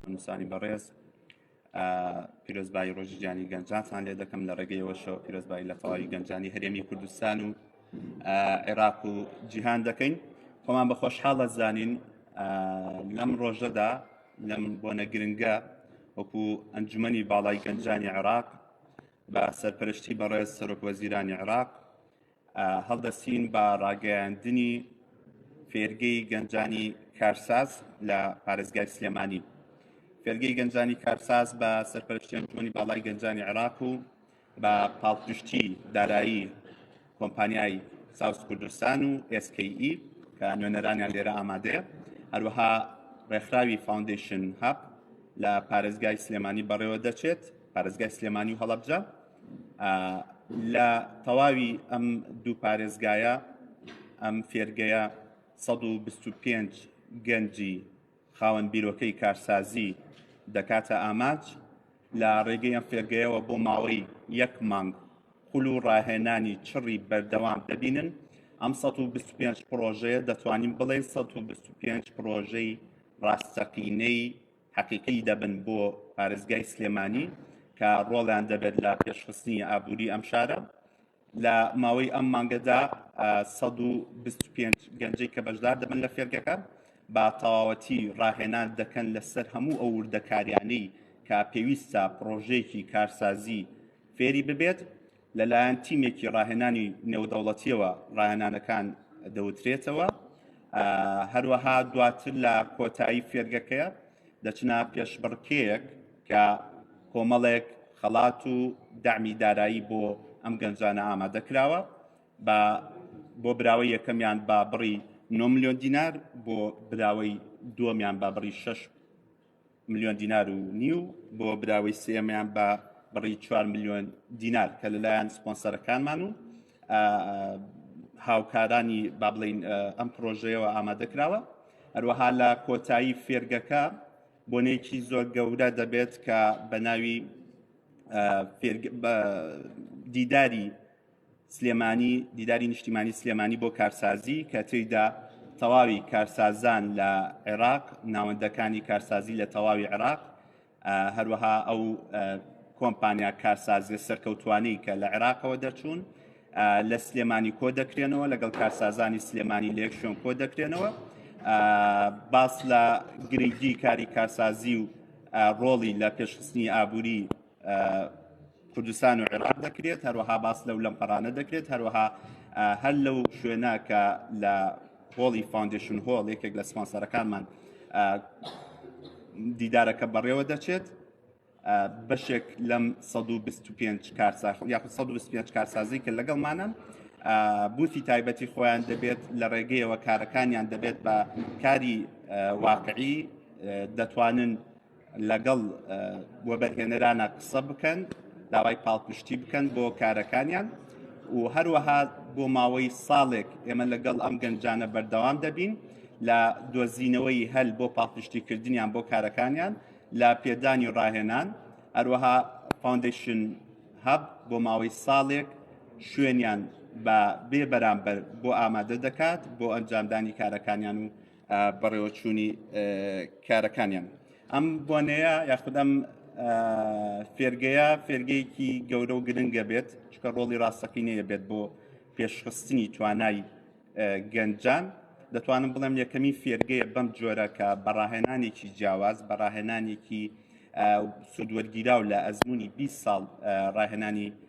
نووسانی بەڕێز پیرۆزبایی ڕۆژی جیانی گەنجاتان لێ دەکەم لە ڕێگەیەوەشەوە پیرۆزبایی لە تەواوی گەنجانی هەرێمی کوردستان و عێراق و جیهان دەکەین خۆمان بە خۆشحاڵە زانین لەم ڕۆژەدا لەم بۆنە گرنگە وەکو ئەنجومی باڵای گەنجانی عێراق بە سەرپەرشتی بەڕێز سەرۆک وەزیرانی عێراق هەڵدەستین بە ڕاگەیاندنی فێرگەی گەنجانی کارساز لە پارێزگای سلێمانی فێرگەی گەنجانی کارساز بە سەرپەرشتی ئەنجومەنی باڵای گەنجانی عێراق و بە پاڵپشتی دارایی کۆمپانیای ساوس کوردستان و SKE کە نوێنەرانیان لێرە ئامادەیە هەروەها ڕێکخراوی فاوندیشن هەب لە پارێزگای سلێمانی بەڕێوە دەچێت پارێزگای سلێمانی و هەڵەبجە لە تەواوی ئەم دوو پارێزگایە ئەم فێرگەیە 125 گەنجی خاوەن بیرۆکەی کارسازی دەکاتە ئاماج لە ڕێگەی ئەم فێرگەیەوە بۆ ماوەی یەک مانگ خول و ڕاهێنانی چڕی بەردەوام دەبینن ئەم 125 پرۆژەیە دەتوانین بڵێ 125 پرۆژەی ڕاستەقینەی حەقیقی دەبن بۆ پارێزگای سلێمانی کە ڕۆڵیان دەبێت لە پێشخستنی ئابووری ئەم شارە لە ماوەی ئەم مانگەدا 125 گەنجەی کە بەشدار دەبن لە فێرگەکە با تەواوەتی ڕاهێنان دەکەن لەسەر هەموو ئەو وردەکاریانەی کە پێویستە پڕۆژەیەکی کارسازی فێری ببێت لەلایەن تیمێکی ڕاهێنانی نێودەوڵەتیەوە ڕاهێنانەکان دەوترێتەوە هەروەها دواتر لە کۆتایی فێرگەکەیە دەچنا پێشبڕکێیەک کە کۆمەڵێک خەڵات و دامی دارایی بۆ ئەم گەنجانە ئامادە کراوە بە بۆ براوەی یەکەمیان با بڕی 9 میلیۆن دینار بۆ براوەی دووەمیان با بڕی 6 ملیۆن دینار و نیو بۆ براوەی سێمیان بە بڕی 4 ملیۆن دینار کە لەلایەن سپۆنسەرەکانمان و هاوکارانی با بڵین ئەم پرۆژەیەوە ئامادە کراوە هەروەها لە کۆتایی فێرگەکە بۆنێکی زۆر گەورە دەبێت کە بە ناوی دیداری سلێمانی دیداری نیشتیمانی سلێمانی بۆ کارسازی کە تێیدا تەواوی کارسازان لە عێراق ناوەندەکانی کارسازی لە تەواوی عێراق هەروەها ئەو کۆمپانیا کارسازی سەرکەوتوانی کە لە عێراقەوە دەچوون لە سلێمانی کۆ دەکرێنەوە لەگەڵ کارسازانی سلێمانی لە یەکشۆن کۆ دەکرێنەوە باس لە گرنگی کاری کارسازی و ڕۆڵی لە پێشخستنی ئابووری کوردستان و عێراق دەکرێت هەروەها باس لەو لەم پەرانە دەکرێت هەروەها هەر لەو شوێنە کە لە هۆڵی فاندشن هۆڵ یەکێک لە سپانسەرەکانمان دیدارەکە بەڕێوە دەچێت بەشێک لەم 125 کارساخ یا 125 کارسازی کە لەگەڵمانە بوتی تایبەتی خۆیان دەبێت لە ڕێگەیەوە کارەکانیان دەبێت بە کاری واقعی دەتوانن لەگەڵ وەبەرهێنەرانە قسە بکەن داوای پاڵپشتی بکەن بۆ کارەکانیان و هەروەها بۆ ماوەی ساڵێک ئێمە لەگەڵ ئەم گەنجانە بەردەوام دەبین لە دۆزینەوەی هەل بۆ پاڵپشتیکردنیان بۆ کارەکانیان لە پێدانی و ڕاهێنان هەروەها فاندیشن هەب بۆ ماوەی ساڵێک شوێنیان بە بێ بەرامبەر بۆ ئامادە دەکات بۆ ئەنجامدانی کارەکانیان و بەڕێوەچوونی کارەکانیان ئەم بۆنەیە یاخود ئەم فێرگەیە فێرگەیەکی گەورە و گرنگە بێت چکە ڕۆڵی ڕاستەقینەیە بێت بۆ پێشخستنی توانای گەنجان دەتوانم بڵێم یەکەمی فێرگەیە بەم جۆرە کە بەڕاهێنانێکی جیاواز بەڕاهێنانێکی سوودوەرگیراو لە ئەزمموی 20 ساڵ ڕاهێنانی